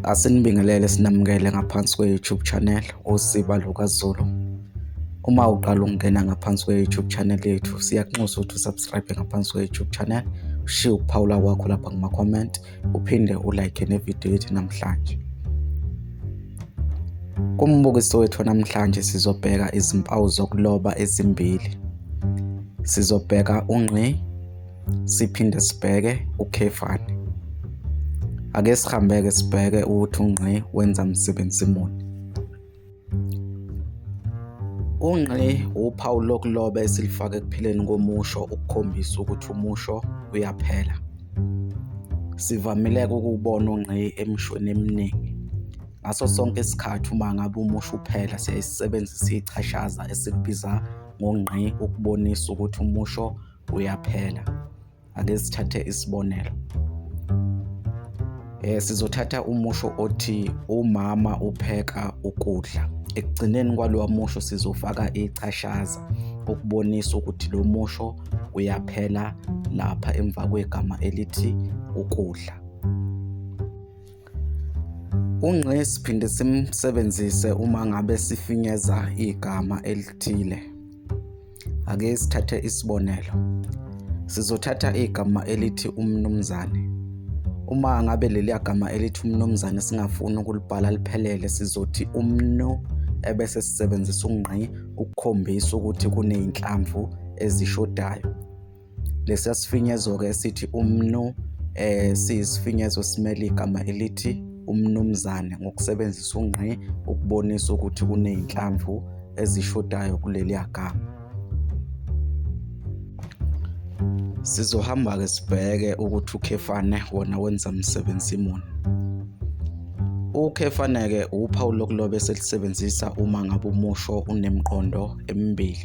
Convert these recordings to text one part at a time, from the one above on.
Asinibingelele sinamukele ngaphansi kwe-YouTube channel uSiba LukaZulu. Uma uqala ukungena ngaphansi kwe-YouTube channel yethu siyakunxusa ukuthi usubscribe ngaphansi kwe-YouTube channel, ushiye ukuphawula kwakho lapha kuma-comment, uphinde ulike nevidiyo yethu namhlanje. Kumbukiso wethu namhlanje sizobheka izimpawu zokuloba ezimbili. Sizobheka ungqi siphinde sibheke ukhefane ake sihambeke sibheke ukuthi ungqi wenza msebenzi muni ungqi uphawu lokuloba esilifake ekupheleni komusho ukukhombisa ukuthi umusho uyaphela sivamileke ukubona ungqi emishweni eminingi ngaso sonke isikhathi uma ngabe umusho uphela siyayisebenzisa ichashaza esikubiza ngongqi ukubonisa ukuthi umusho buyaphela ake sithathe isibonelo eh sizothatha umusho othi umama upheka ukudla ekugcineni kwalowa musho sizofaka ichashaza ukubonisa ukuthi lo musho uyaphela lapha emva kwegama elithi ukudla ungqe siphinde simsebenzise uma ngabe sifinyeza igama elithile Ake sithathe isibonelo. Sizothatha igama elithi umnumzane. Uma ngabe leliya gama elithi umnumzane singafuni ukulibhala liphelele sizothi umnu ebese sisebenzisa ungqi ukukhombisa ukuthi kuney'nhlamvu ezishodayo. Lesiya sifinyezo-ke esithi umnu um eh, siyisifinyezo esimele igama elithi umnumzane ngokusebenzisa ungqi ukubonisa ukuthi kuney'nhlamvu ezishodayo kuleliya gama. Sizohamba-ke sibheke ukuthi ukhefane wona wenza msebenzi muni. Ukhefane-ke uphawu lokuloba esilisebenzisa uma ngabe umusho unemqondo emibili.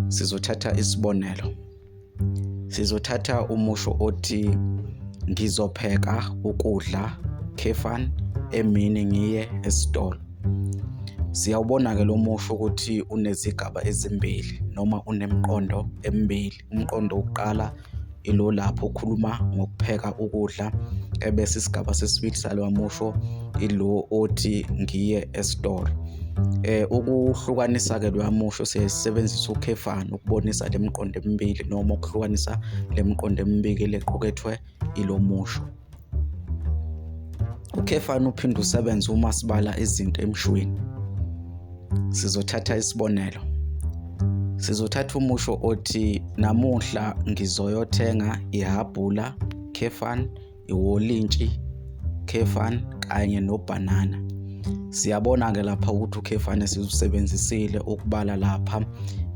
sizothatha isibonelo sizothatha umusho othi ngizopheka ukudla khefan emini ngiye esitolo siyawubona ke lo musho ukuthi unezigaba ezimbili noma unemiqondo emibili umqondo wokuqala ilo lapho ukhuluma ngokupheka ukudla ebese isigaba sesibili salowa musho ilo othi ngiye esitolo eh ukuhlukanisa ke loya musho sesebenzisa ukhefana ukubonisa lemiqondo emibili noma ukuhlukanisa lemiqondo emibili lequkethwe ilomusho ukhefani uphinde usebenze uma sibala izinto emshweni sizothatha isibonelo sizothatha umusho othi namuhla ngizoyothenga ihabhula khefan iwolintshi khefan kanye nobhanana siyabona ke lapha ukuthi ukhefan esizusebenzisile ukubala lapha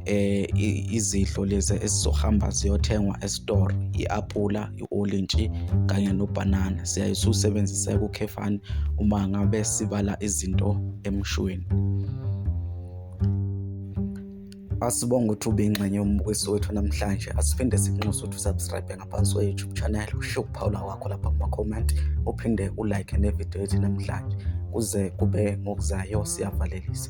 eh izidlo lezi esizohamba ziyothengwa esitoro iapula olintshi kanye nobhanana siyaye siwusebenzise kukhefani uma ngabe sibala izinto emshweni asibonga ukuthi ube ingxenye yombukiso wethu namhlanje asiphinde sikunxuse ukuthi usubscribe ngaphansi kwe-youtube channel ushiye ukuphawula kwakho lapha kuma-comment uphinde ulike nevidiyo yethu namhlanje kuze kube ngokuzayo siyavalelisa